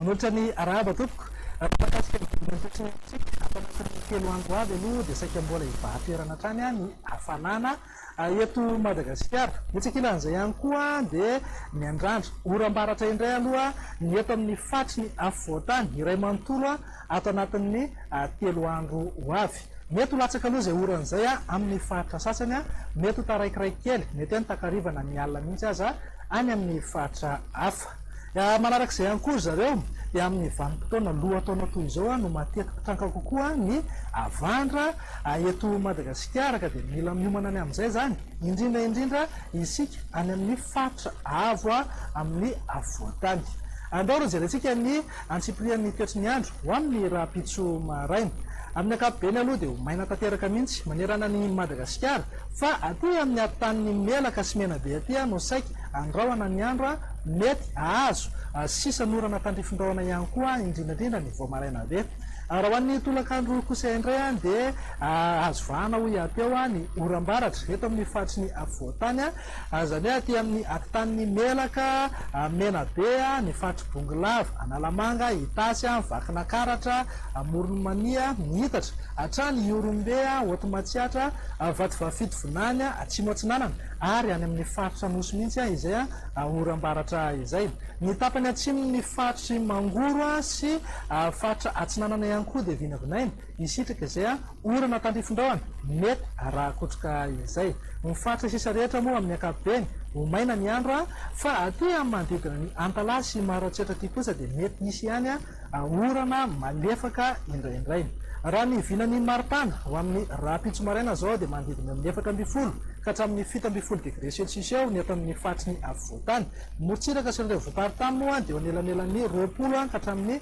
Manoatra ny arahaba tompoko. Raha mahakasika ny vidin'ny entana sy ny entana, ato anatin'ny telo andro ho avy aloha dia saika mbola hibahan-toerana hatrany ny hafanana. Eto Madagasikara, etsy ankilan'izay ihany koa dia miandrandra oram-baratra indray aloha ny eto amin'ny faritry ny afovoan-tany iray manontolo ato anatin'ny telo andro ho avy. Mety ho latsaka aloha izay orana izay amin'ny faritra sasany, mety ho taraikiray kely, mety hoe ny takariva na ny alina mihitsy aza any amin'ny faritra hafa. Manaraka izay ihany koa ry zareo dia amin'ny vanim-potoana lohataona toy izao no mateti-pitranka kokoa ny havandra eto Madagasikara ka dia mila miomana ny amin'izay izany indrindra indrindra isika any amin'ny faritra avo amin'ny afovoan-tany. Andao raha jerentsika ny antsipirian'ny toetry ny andro ho amin'ny rahampitso maraina. Amin'ny ankapobeny aloha dia ho maina tanteraka mihitsy manerana an'i Madagasikara fa aty amin'ny aty tanin'ny Melaka sy Menabe aty no saika Andrahona ny andro a! Mety hahazo sisan orana tandrifin-drahona ihany koa indrindra indrindra ny vao maraina be. Raha ho an'ny tolakandro kosa indray dia azo vahana ho hiha-teo ny oram-baratra eto amin'ny faritry ny afovoan-tany, izany hoe aty amin'ny atitan'ny Melaka, Menabe, ny faritr'i Bongolava, Analamanga, Itasy, Vakinakaratra, Amoron'i Mania, Miitatra, hatrany Ihorombe, Haoty Matsiatra, Vatovavy Fitovinany, Atsimo Atsinanana. ary any amin'ny faritra Anosy mihitsy izay oram-baratra izay. Ny tapany atsimon'ny faritr'i Mangoro sy faritra atsinanana ihany koa dia vinavinaina hisitraka izay orana tandrifin-drahona mety rakotroka izay. Ny faritra sisa rehetra moa amin'ny ankapobeny ho maina ny andro fa aty amin'ny manodidina an'i Antalaha sy Maroantsetra aty kosa dia mety hisy ihany orana malefaka indraindray. Raha ny vilan'ny maripana ho amin'ny rahampitso maraina izao dia manodidina amin'ny efatra ambin'ny folo ka hatramin'ny fito ambin'ny folo degre celsius eo ny eto amin'ny faritry ny afovoan-tany. Ny morontsiraka sy ny renivohi-paritany moa dia eo anelanelan'ny roapolo ka hatramin'ny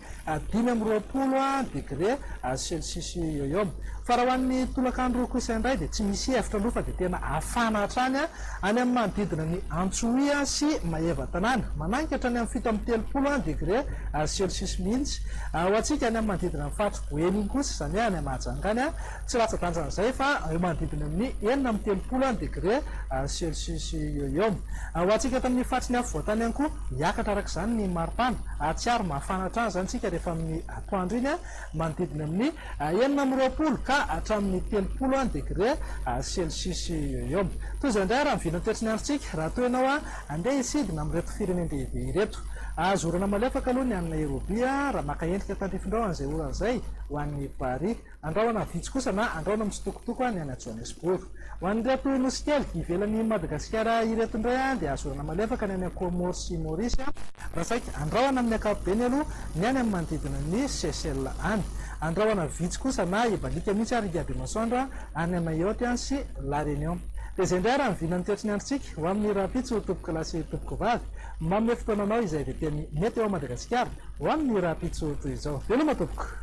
dimy amby roapolo degre celsius eo eo. Fa raha ho an'ny tolakandro kosa indray dia tsy misy hevitra aloha fa dia tena hafana hatrany Any amin'ny manodidina ny Antsohihy sy Maeva tanàna, manakatra ny amin'ny fito amby telopolo degre celcius mihitsy. Ho antsika any amin'ny manodidina ny faritry Boeny iny kosa, izany hoe any Mahajanga any, tsy latsa-danja an'izay fa eo manodidina ny enina amby telopolo degre celcius eo eo. Ho antsika eto amin'ny faritry ny afovoantany ihany koa, hiakatra araka izany ny maripana. Hahatsiaro mafana hatrany izany isika rehefa amin'ny atoandro iny, manodidina amin'ny. enina amby roapolo ka hatramin'ny telopolo degre celsius eo eo. Toy izao indray ary ny vidin'ny toetry ny androntsika raha toa ianao handeha hisidina amin'ireto firenen-dehibe ireto. Azo orana malefaka aloha ny any Nairobi raha maka endrika tandrifindrao an'izay orana izay ho an'i Bari. Andrahona vitsy kosa na andrahona mitsitokotoko ny any Johannesburg. Ho an'ireto nosy kely ivelan'i Madagasikara ireto indray dia azorana malefaka ny any Comores sy Maurice raha saika andrahona amin'ny ankapobeny aloha ny any amin'ny manodidina ny Seychelles any. Andrahona vitsy kosa na ibaliaka mihitsy ary hiabe masoandro any Mayotte sy La Réunion. Dia izay indray ary ny vinan'ny toetry ny androntsika ho amin'ny rahampitso tompokolahy sy tompokovavy. Manome fotoana anao izay veteny mety eo Madagasikara. Ho an' ny rahampitso toy izao. Veloma tompoko.